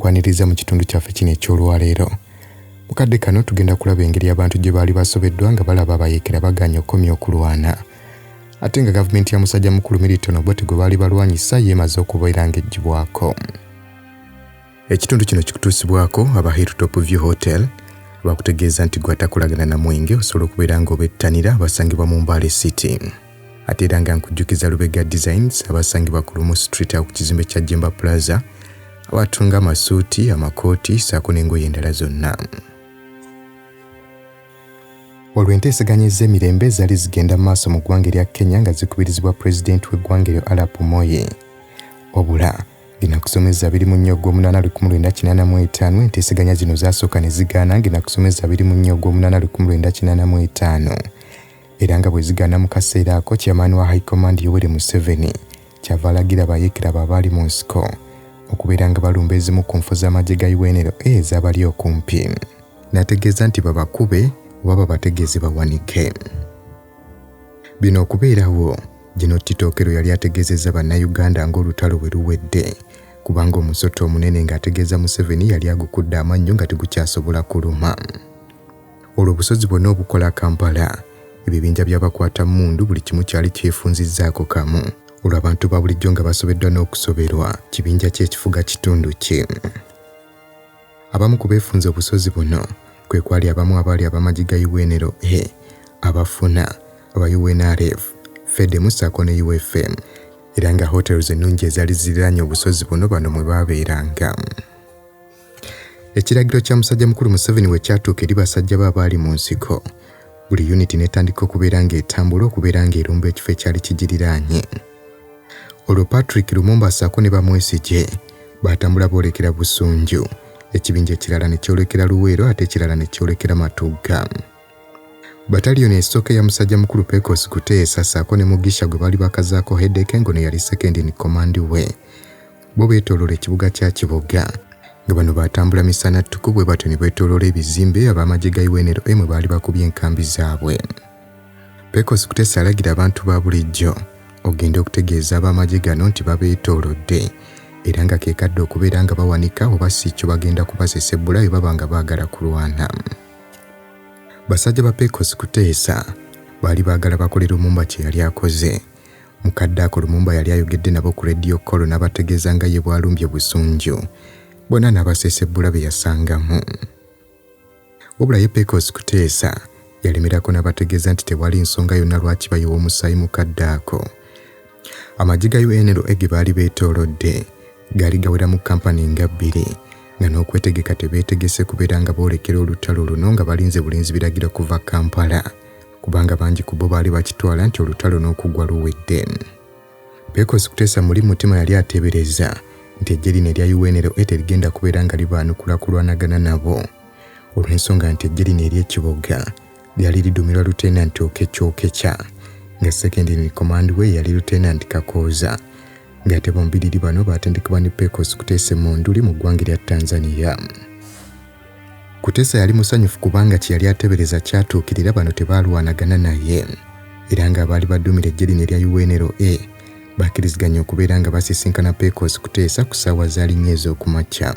kwaniriza mu kitundu kyaffe kino eky'olwaleero mu kadde kano tugenda kulaba engeri abantu gye baali basobeddwa nga balaba abayeekera baganye okukomya okulwana ate nga gavumenti ya musajja mukulu milton obote gwe baali balwanyisa yeemaze okubeera ng'eggyibwako Ekitundu kino kikutuusibwako aba Hilltop View Hotel bakutegeeza nti gwatakolagana na mwenge osobola okubeera nga obettanira abasangibwa mu Mbale City. Ate era nga nkujjukiza Lubega Designs abasangibwa ku Lumu Street awo ku kizimbe kya Jemba Plaza abatunga amasuuti, amakooti ssaako n'engoye endala zonna. Olwo enteeseganya ez'emirembe zaali zigenda maaso mu ggwanga erya Kenya nga zikubirizibwa pulezidenti w'eggwanga eryo Arap Moi. Obula ng'enakusomeza biri mu nnyo ogw'omunaana lukumi lwenda kinaana mu etaano enteeseganya zino zaasooka ne zigaana ng'enakusomeza biri mu nnyo ogw'omunaana lukumi lwenda kinaana mu etaano era nga bwe zigaana mu kaseera ako kyamaani wa high command yoweri museveni kyava alagira bayeekera abo abaali mu nsiko okubeera nga balumba ezimu ku nfu z'amagye ga unra ezabali okumpi n'ategeeza nti babakube oba babategeeze bawanike bino okubeerawo Gino Kitokero yali ategeezezza Bannayuganda ng'olutalo bwe luwedde kubanga omusota omunene ng'ategeeza Museveni yali agukudde amannyo nga tegukyasobola kuluma. Olwo obusozi bwonna obukola Kampala, ebibinja by'abakwata mmundu buli kimu kyali kyefunzizzaako kamu. Olwo abantu ba bulijjo nga basobeddwa n'okusoberwa kibinja kye ekifuga kitundu kye. Abamu ku beefunze obusozi buno kwe kwali abamu abaali abamagi ga UNLA, e, abafuna aba UNRF, FEDEMU ssaako ne UFM era nga hotels ennungi ezaali ziriraanye obusozi buno bano mwe baabeeranga. Ekiragiro kya musajja mukulu Museveni we kyatuuka eri basajja be abaali mu nsiko, buli yuniti n'etandika okubeera ng'etambula okubeera ng'erumba ekifo ekyali kigiriraanye. olwo patrick lumumba ssaako ne bamwesigye baatambula boolekera busunju ekibinja ekirala ne kyolekera luweero ate ekirala ne kyolekera matugga bataliyoni esooka eya musajja mukulu pecos kuteesa ssaako ne mugisha gwe baali bakazaako hedeke ngono yali sekendi ni komandi we bo beetooloola ekibuga kya kiboga nga bano baatambula misana ttuku bwe batyo ne beetooloola ebizimbe ab'amagye ga unlm baali bakubye enkambi zaabwe Pecos Kutesa alagira abantu ba bulijjo okugenda okutegeeza ab'amagye gano nti babeetoolodde era nga kekadde okubeera nga bawanika oba si kyo bagenda kubasesa ebbula bye baba nga baagala kulwana. Basajja ba Pecos Kuteesa baali baagala bakolera omumba kye yali akoze mu kadde ako lumumba yali ayogedde nabo ku rediyo kolo n'abategeeza nga ye bwalumbye busunju bona n'abaseesa ebbula be yasangamu Wabula ye Pecos Kuteesa yalemerako n'abategeeza nti tewali nsonga yonna lwaki bayiwa omusaayi mu kadde ako. Amagye ga UNLA ge baali beetoolodde gaali gaweramu kkampani nga bbiri nga n'okwetegeka tebeetegese kubeera nga boolekera olutalo luno nga balinze bulinzi biragiro kuva Kampala kubanga bangi ku bo baali bakitwala nti olutalo n'okugwa luwedde. Pecos Kutesa muli mutima yali ateebereza nti eggye lino erya UNLA terigenda kubeera nga libaanukula kulwanagana nabo olw'ensonga nti eggye lino ery'ekiboga lyali lidumirwa Lieutenant Okekyokekya nga secondary command we yali Lieutenant Kakooza ng'ate bombiriri bano baatendekebwa ne Pecos Kutesa Emunduli mu ggwanga erya Tanzania. Kutesa yali musanyufu kubanga kye yali atebereza kyatuukirira bano tebaalwanagana naye era ng'abaali baduumira eggye lino erya UNLA bakkiriziganya okubeera nga basisinkana Pecos Kuteesa ku ssaawa za linnya ez'okumakya.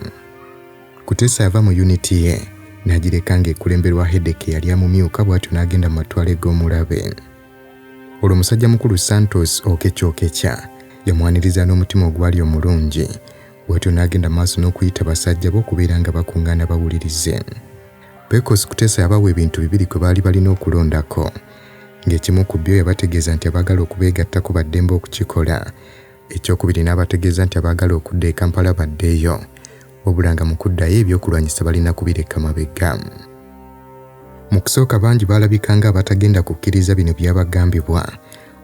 Kuteesa yava mu yuniti ye n'agireka ng'ekulemberwa Hedeke yali amumyuka bw'atyo n'agenda mu matwala eg'omulabe. Olwo musajja mukulu Santos Okekya Okekya yamwaniriza n'omutima ogwali omulungi Bw'atyo n'agenda maaso n'okuyita basajja be okubeera nga bakuŋŋaana bawulirize. Pecos Kutesa yabawa ebintu bibiri kwe baali balina okulondako. Ng'ekimu ku byo yabategeeza nti abaagala okubeegattako ba ddembe okukikola. Ekyokubiri n'abategeeza nti abaagala okudda e Kampala baddeeyo wabula nga mu kuddayo ebyokulwanyisa balina kubireka mabega. Mu kusooka bangi baalabika ng'abatagenda kukkiriza bino byabagambibwa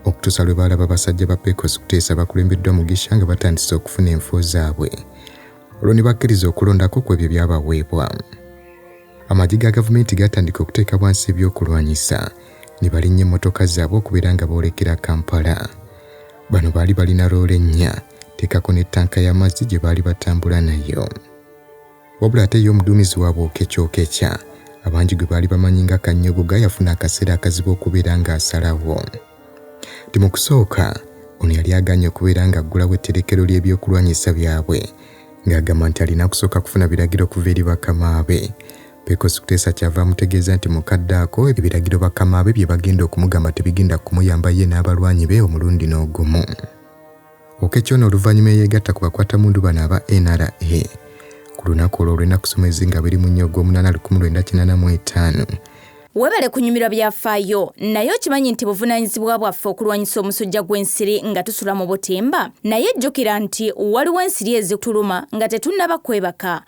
okutuusa lwe baalaba basajja ba Pecos kuteesa bakulembeddwa Mugisha nga batandise okufuna enfo zaabwe olwo ne bakkiriza okulondako ku ebyo byabaweebwa amagi ga gavumenti gatandika okuteeka bwansi ebyokulwanyisa ne balinnya emmotoka zaabwe okubeera nga boolekera kampala bano baali balina loole nnya teekako ne ttanka y'amazzi gye baali batambula nayo Wabula ate ye omuduumizi waabwe Oketch Oketch, abangi gwe baali bamanyi nga Kanyogoga yafuna akaseera akazibu okubeera ng'asalawo. Nti mu kusooka ono yali agaanye okubeera ng'aggulawo etterekero ly'ebyokulwanyisa byabwe ng'agamba nti alina kusooka kufuna biragiro okuva eri bakama be Pecos Kutesa kyava amutegeeza nti mu kadde ako ebiragiro bakama be bye bagenda okumugamba tebigenda kumuyamba ye n'abalwanyi be omulundi n'ogumu. Oketch ono oluvannyuma eyeegatta ku bakwatammundu bano aba NRA ku lunaku olwo olw'ennaku soma ezizinga biri mu nnyo ogw'omunaana lukumi lwenda kinaana mu etaano webale kunyumirwa byafaayo naye okimanyi nti buvunaanyizibwa bwaffe okulwanyisa omusujja gw'ensiri nga tusula mu butimba naye jjukira nti waliwo ensiri ezituluma nga tetunnaba kwebaka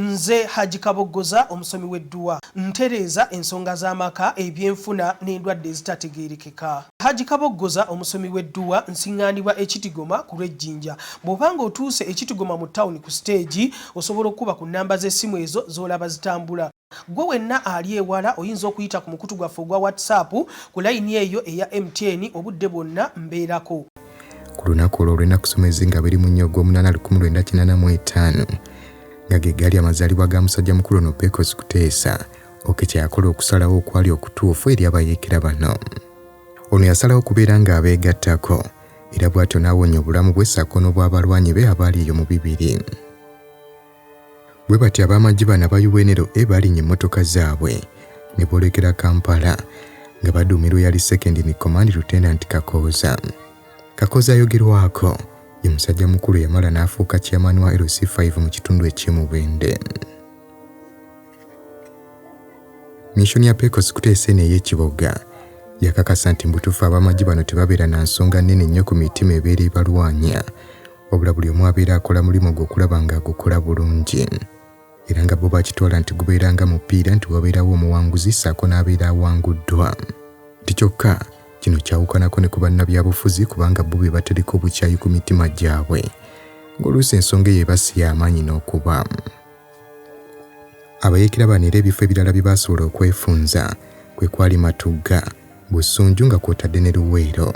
Nze Hajji Kaboggoza omusomi w'edduwa. Ntereeza ensonga z'amaka, ebyenfuna n'endwadde ezitategeerekeka. Hajji Kaboggoza omusomi w'edduwa. Nsiŋŋaanibwa e Kitigoma ku lw'e Jinja. Bw'oba ng'otuuse e Kitigoma mu ttawuni ku siteegi, osobola okukuba ku nnamba z'essimu ezo z'olaba zitambula. Ggwe wenna ali ewala oyinza okuyita ku mukutu gwaffe ogwa WhatsApp ku layini eyo eya MTN obudde bwonna mbeerako. ku lunaku olwo olw'ennaku somezi nga biri mu nnya ogw'omunaana lukumi lwenda kinaana mu etaano nga ge gaali amazaalibwa ga musajja mukulu ono pekos kuteesa oke kye yakola okusalawo okwali okutuufu eri abayeekera bano ono yasalawo okubeera ng'abeegattako era bw'atyo n'awonya obulamu bwe ssaako n'obw'abalwanyi be abaali eyo mu bibiri Bwe batyo ab'amagye bano aba UNLA baalinya emmotoka zaabwe ne boolekera Kampala nga baduumirwa eyali Second in Command Lieutenant Kakooza. Kakooza ayogerwako ye musajja mukulu yamala n'afuuka chairman wa LC5 mu kitundu eky'e Mubende. Missioni ya Pecos kuteesa eno ey'ekiboga yakakasa nti mbutuufu ab'amagye bano tebabeera na nsonga nnene nnyo ku mitima ebeera ebalwanya wabula buli omu abeera akola mulimu gwe okulaba nga agukola bulungi era nga bo bakitwala nti gubeera nga mupiira nti wabeerawo omuwanguzi ssaako n'abeera awanguddwa nti kyokka kino kyawukanako ne ku bannabyabufuzi kubanga bo be batereka obukyayi ku mitima gyabwe ng'oluusi ensonga eyo ebasi y'amaanyi n'okuba abayeekera bano era ebifo ebirala bye baasobola okwefunza kwe kwali matugga busunju nga kwotadde ne luweero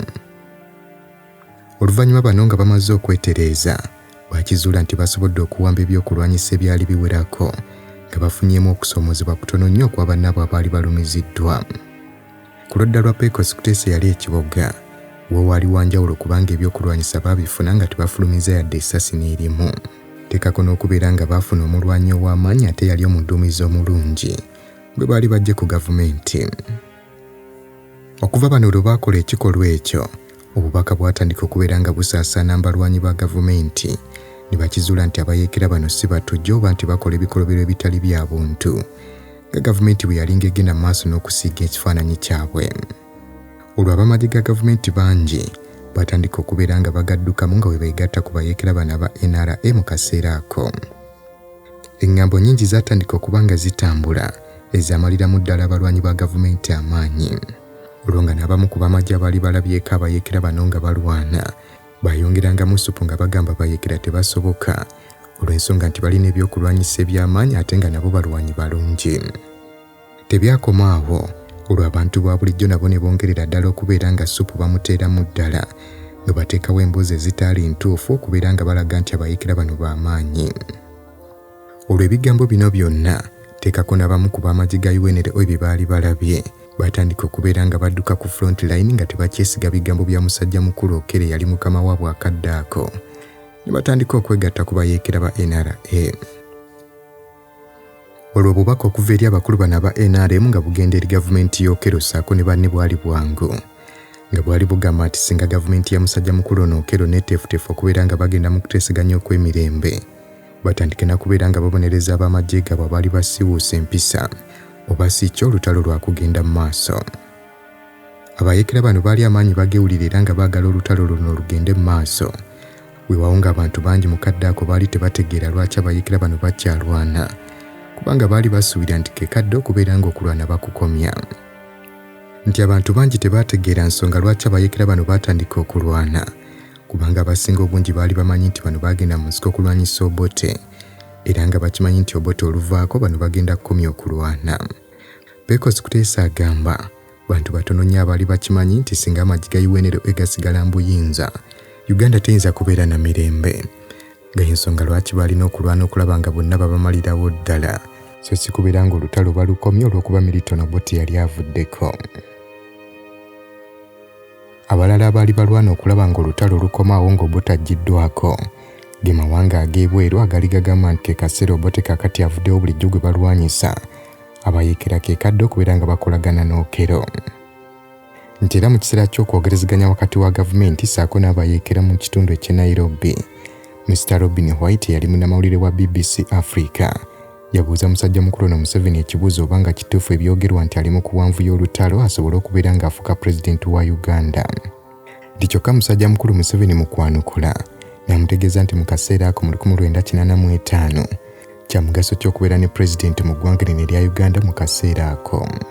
Oluvannyuma bano nga bamaze okwetereeza baakizuula nti basobodde okuwamba ebyokulwanyisa ebyali biwerako nga bafunyeemu okusoomoozebwa kutono nnyo okwa bannaabwe abaali balumiziddwa. Ku ludda lwa Pecos Kutesa eyali ekiboga wo waali wa njawulo kubanga ebyokulwanyisa baabifuna nga tebafulumizza yadde essasi n'erimu. Teekako n'okubeera nga baafuna omulwanyi ow'amaanyi ate yali omuduumizi omulungi gwe baali baggye ku gavumenti. Okuva bano lwe baakola ekikolwa ekyo, obubaka bwatandika okubeera nga busaasaana mbalwanyi ba gavumenti ne bakizuula nti abayeekera bano si batujju oba nti bakola ebikolobero ebitali bya buntu nga gavumenti bwe yalinga egenda mu maaso n'okusiiga ekifaananyi kyabwe. Olwo abamagye ga gavumenti bangi baatandika okubeera nga bagaddukamu nga bwe beegatta ku bayeekera bano aba NRA mu kaseera ako. Engambo nyingi zatandika okuba nga zitambula ezamaliramu ddala abalwanyi ba gavumenti amaanyi olwo nga n'abamu ku bamagye abaali balabyeko abayekera bano nga balwana bayongerangamu supu nga bagamba bayekera tebasoboka olw'ensonga nti balina ebyokulwanyisa eby'amaanyi ate nga nabo balwanyi balungi Tebyakoma awo olwo abantu ba bulijjo nabo ne bongerera ddala okubeera nga ssupu bamuteeramu ddala nga bateekawo emboozi ezitaali ntuufu okubeera nga balaga nti abayeekera bano ba maanyi olwo ebigambo bino byonna teekako n'abamu ku b'amagye ga unra ebyo baali balabye baatandika okubeera nga badduka ku front line nga tebakyesiga bigambo bya musajja mukulu okere yali mukama waabwe akadde ako ne batandika okwegatta ku bayeekera ba nra Olwo obubaka okuva eri abakulu bano aba NRM nga bugenda eri gavumenti y'Okello ssaako ne banne bwali bwangu nga bwali bugamba nti singa gavumenti ya musajja mukulu ono Okello neeteefuteefu okubeera nga bagenda mu kuteeseganya okw'emirembe batandike na kubeera nga babonereza ab'amagye gaabwe abaali basiwuuse empisa oba si kyo olutalo lwakugenda mu maaso. Abayeekera bano baali amaanyi bagewulira era nga baagala olutalo luno lugende mu maaso. Weewaawo ng'abantu bangi mu kadde ako baali tebategeera lwaki abayeekera bano bakyalwana, kubanga baali basuubira nti ke kadde okubeera ng'okulwana bakukomya. Nti abantu bangi tebaategeera nsonga lwaki abayeekera bano baatandika okulwana, kubanga abasinga obungi baali bamanyi nti bano baagenda mu nsiko okulwanyisa Obote, era nga bakimanyi nti Obote oluvaako bano bagenda kukomya okulwana. Pecos Kuteesa agamba bantu batono nnyo abaali bakimanyi nti singa amagi ga UNLA gasigala mu buyinza, Uganda teyinza kubeera na mirembe nga y'ensonga lwaki baalina okulwana okulaba nga bonna babamalirawo ddala so si kubeera ng'olutalo balukomye olw'okuba Milton Obote yali avuddeko. Abalala abaali balwana okulaba ng'olutalo lukomawo ng'Obote aggyiddwaako, ge mawanga ag'ebweru agaali gagamba nti ke kaseera Obote kaakati avuddewo bulijjo gwe balwanyisa, abayeekera ke kadde okubeera nga bakolagana n'Okello. Nti era mu kiseera ky'okwogerezeganya wakati wa gavumenti ssaako n'abayeekera mu kitundu eky'e Nairobi, Mister Robin White eyali munnamawulire wa BBC Africa, Yabuuza musajja mukulu ono Museveni ekibuuzo oba nga kituufu ebyogerwa nti ali mu kuwanvuya olutalo asobole okubeera ng'afuuka pulezidenti wa Uganda. Nti kyokka musajja mukulu Museveni mu kwanukula n'amutegeeza nti mu kaseera ako mu 1985 kya mugaso ki okubeera ne pulezidenti mu ggwanga lino erya Uganda mu kaseera ako.